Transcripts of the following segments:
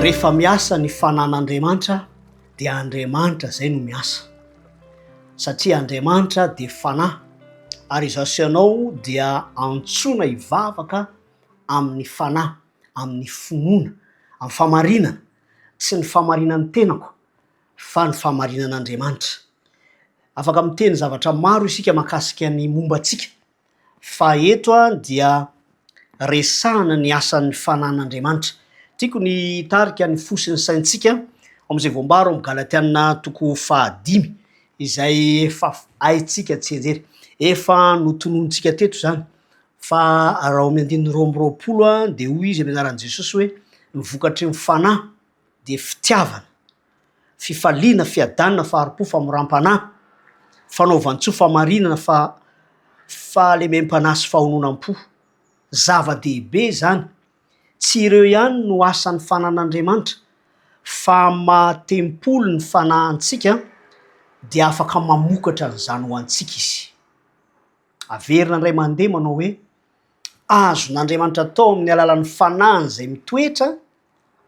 Rehefa miasa ny fanan'Andriamanitra dia Andriamanitra izay no miasa satria Andriamanitra dia fanahy ary izaho sy ianao dia antsoina hivavaka amin'ny fanahy, amin'ny finoana, amin'ny famarinana sy ny famarinan'ny tenako. fa ny fahamarinan'Andriamanitra. Afaka miteny zavatra maro isika mahakasika ny momba antsika fa eto dia resahana ny asan'ny fanan'Andriamanitra. Tiako ny hitarika ny fo sy ny saintsika ao amin'izay voambara ao amin'ny Galatiana toko fahadimy izay efa haintsika tsianjery. Efa notononintsika teto izany fa raha ao amin'ny andininy roa amby roapolo dia hoy izy amin'ny anaran'i Jesosy hoe ny vokatry ny fanahy dia fitiavana, fifaliana, fiadanana, fahari-po, famoram-panahy, fanaovan-tsoa, fahamarinana, fahalemem-panahy sy fahononam-po. Zava-dehibe izany. Tsy ireo ihany no asan'ny fananan'Andriamanitra, fa amin'ny maha tempoly ny fanahy antsika dia afaka mamokatra an'izany ho antsika izy. Averina indray mandeha manao hoe. azon'Andriamanitra atao amin'ny alalan'ny fanahiny izay mitoetra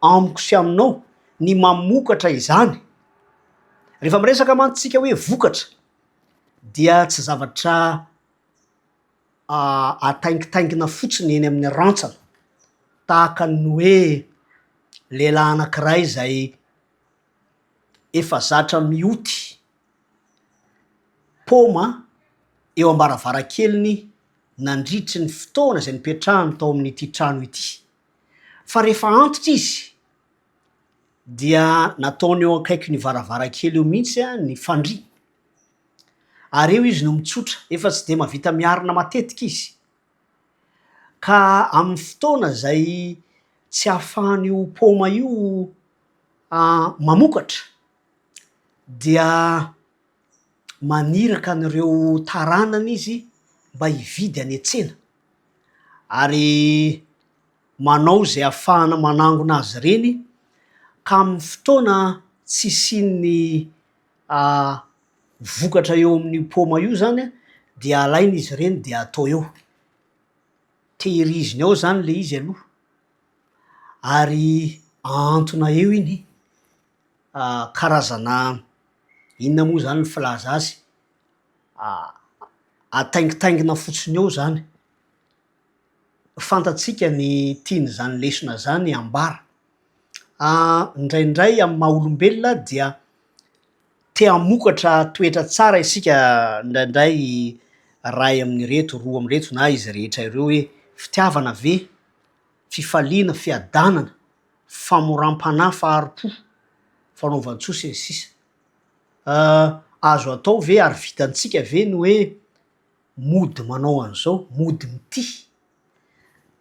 amiko sy aminao ny mamokatra izany. Rehefa miresaka mantsy tsika hoe vokatra dia tsy zavatra ataingitaingina fotsiny eny amin'ny rantsana tahaka ny hoe lehilahy anankiray izay efa zatra mioty paoma eo am-baravarankeliny nandritry ny fotoana izay nipetrahany tao amin'ity trano ity. Fa rehefa antitra izy dia nataony eo akaikin'io varavarankely eo mihitsy ny fandriany. Ary eo izy no mitsotra, efa tsy dia mahavita miarina matetika izy. Ka amin'ny fotoana izay tsy ahafahan'io paoma io mamokatra dia maniraka an'ireo taranany izy mba hividy any an-tsena ary manao izay hahafahana manangona azy ireny ka amin'ny fotoana tsy hisian'ny vokatra eo amin'io paoma io zany an, dia alaina izy ireny dia atao eo. Tehiriziny ao zany le izy aloha ary ahantona eo iny. Karazana inona moa zany ny filaza azy? Ataingitaingina fotsiny eo zany. Fantatsika ny tian'izany lesona zany ambara. Indraindray amin'ny maha olombelona dia te hamokatra toetra tsara isika indraindray iray amin'ireto, roa amin'ireto na izy rehetra ireo hoe fitiavana ve, fifaliana, fiadanana. famoram-panahy, fahari-po, fanaovan-tsoa sy ny sisa Ah, azo atao ve ary vitantsika ve ny hoe mody manao an'izao, mody mitia?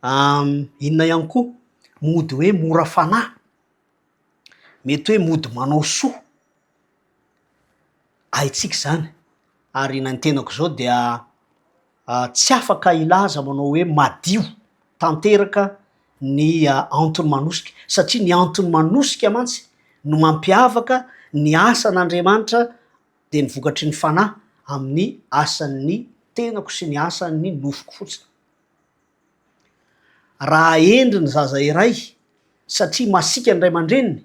Am, inona ihany koa, mody hoe mora fanahy, mety hoe mody manao soa. Haintsika izany ary na ny tenako izao dia. tsy afaka hilaza manao hoe madio tanteraka ny anton'i Manosika, satria ny anton'i Manosika mantsy no mampiavaka ny asan'Andriamanitra dia ny vokatry ny Fanahy amin'ny asan'ny tenako sy ny asan'ny nofoko fotsiny. Raha hendry ny zaza iray satria masiaka ny ray aman-dreniny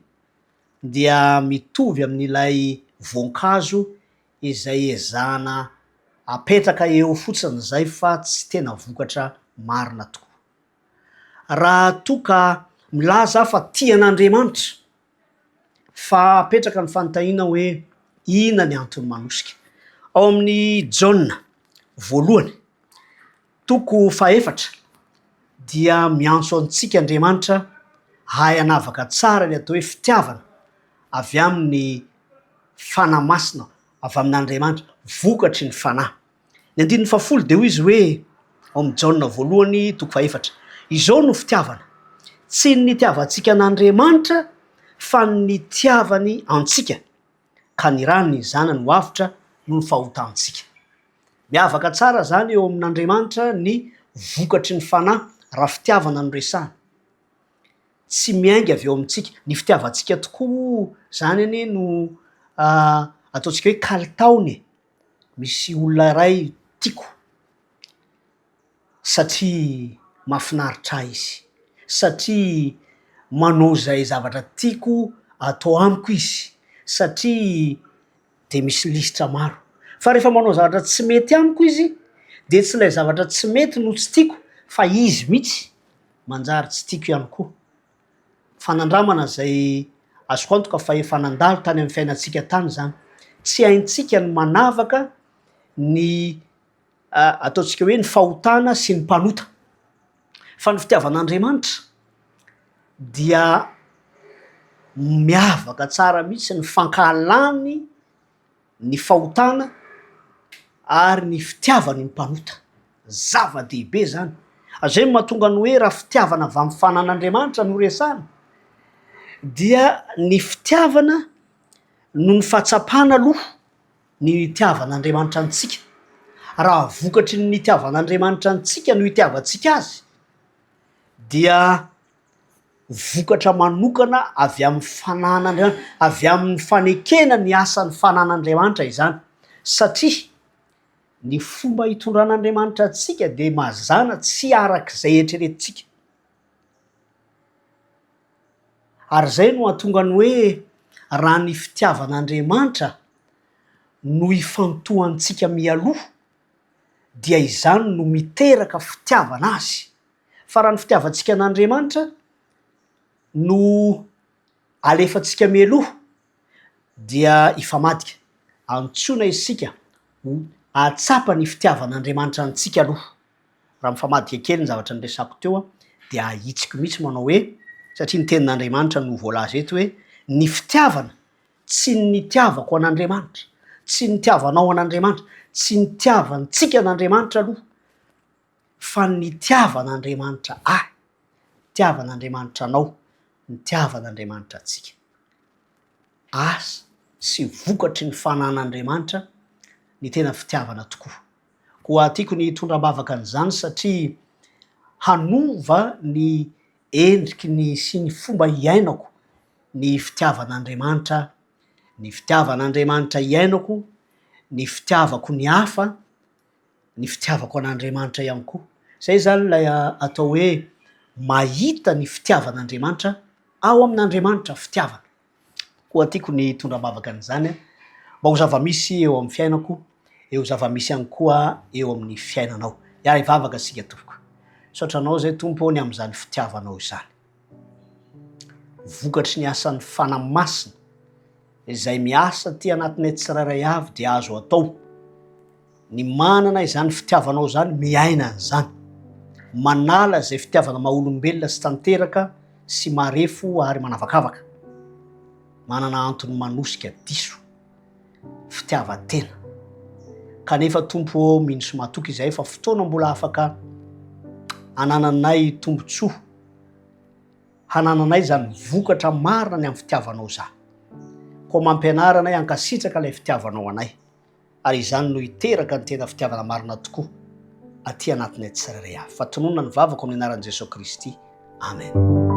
dia mitovy amin'ilay voankazo izay ezahana apetraka eo fotsiny izay fa tsy tena vokatra marina tokoa. Raha toa ka milaza aho fa tia an'Andriamanitra, fa apetraka ny fanontaniana hoe inona ny antony manosika. Ao amin'ny Jaona voalohany, Toko fahefatra dia miantso antsika Andriamanitra hahay hanavaka tsara ny atao hoe fitiavana avy amin'ny Fanahy Masina, avy amin'Andriamanitra, vokatry ny Fanahy. Ny andininy fahafolo dia hoy izy hoe, ao amin'ny Jaona voalohany toko fahefatra, Izao no fitiavana, tsy ny nitiavantsika an'Andriamanitra fa ny nitiavany antsika, ka nirahany ny zanany ho avotra noho ny fahotantsika. Miavaka tsara izany eo amin'Andriamanitra ny vokatry ny fanahy raha fitiavana no resahana. Tsy miainga avy eo amintsika. Ny fitiavantsika tokoa izany anie no ataontsika hoe kalitaony e! Misy olona iray tiako, satria mahafinaritra ahy izy, satria manao izay zavatra tiako atao amiko izy, satria dia misy lisitra maro. Fa rehefa manao zavatra tsy mety amiko izy dia tsy ilay zavatra tsy mety no tsy tiako fa izy mihitsy manjary tsy tiako ihany koa. Fa nandramana izay azoko antoka fa efa nandalo tany amin'ny fiainantsika tany izany. Tsy haintsika ny manavaka ny. Ataontsika hoe ny fahotana sy ny mpanota. Fa ny fitiavan'Andriamanitra dia miavaka tsara mihitsy ny fankahalany ny fahotana ary ny fitiavany ny mpanota. Zava-dehibe zany. Zay no mahatonga ny hoe raha fitiavana avy amin'ny fanan'Andriamanitra no resahana dia ny fitiavana noho ny fahatsapana aloha. ny hitiavan'Andriamanitra antsika. Raha vokatry ny nitiavan'Andriamanitra antsika no hitiavantsika azy dia vokatra manokana avy amin'ny fananan'Andriamanitra, avy amin'ny fanekena ny asan'ny fananan'Andriamanitra izany satria ny fomba hitondran'Andriamanitra antsika dia mazàna tsy araka izay eritreretintsika. Ary izay no hahatonga ny hoe raha ny fitiavan'Andriamanitra no ifantohantsika mialoha dia izany no miteraka fitiavana Azy. Fa raha ny fitiavantsika an'Andriamanitra no alefantsika mialoha dia hifamadika. Antsoina isika ho hahatsapa ny fitiavan'Andriamanitra antsika aloha. Raha mifamadika kely ny zavatra niresako teo dia ahitsiko mihitsy manao hoe, satria ny tenin'Andriamanitra no voalaza eto hoe, ny fitiavana, tsy ny nitiavako an'Andriamanitra, tsy ny nitiavanao an'Andriamanitra, tsy nitiavantsika an'Andriamanitra aloha, fa ny nitiavan'Andriamanitra ahy, nitiavan'Andriamanitra anao, nitiavan'Andriamanitra antsika. Asa sy vokatry ny fanan'Andriamanitra ny tena fitiavana tokoa. Koa tiako ny hitondra am-bavaka an'izany satria hanova ny endriky ny sy ny fomba hiainako ny fitiavan'Andriamanitra, ny fitiavan'Andriamanitra iainako, ny fitiavako ny hafa, ny fitiavako an'Andriamanitra ihany koa. Izay izany ilay atao hoe mahita ny fitiavan'Andriamanitra ao amin'Andriamanitra fitiavana. Koa tiako ny hitondra am-bavaka an'izany mba ho zava-misy eo amin'ny fiainako, dia ho zava-misy ihany koa eo amin'ny fiainanao. Hiahy hivavaka isika tompoko. Misaotra Anao izay Tompo ny amin'izany fitiavanao izany. Vokatry ny asan'ny Fanahy Masina izay miasa aty anatinay tsirairay avy dia azo atao Ny manana izany fitiavanao izany miaina an'izany. Manala izay fitiavana maha olombelona sy tanteraka sy marefo ary manavakavaka. Manana antony manosika diso. Fitiavan-tena. Kanefa Tompo ô, mino sy matoky izahay fa fotoana mbola afaka anananay tombontsoa hanananay izany vokatra marina ny amin'ny fitiavanao izany. Koa mampianara anay hankasitraka ilay fitiavanao anay. ary izany no hiteraka ny tena fitiavana marina tokoa aty anatinay tsirairay avy. Fa tononina ny vavako amin'ny anaran'i Jesoa Kristy. Amen.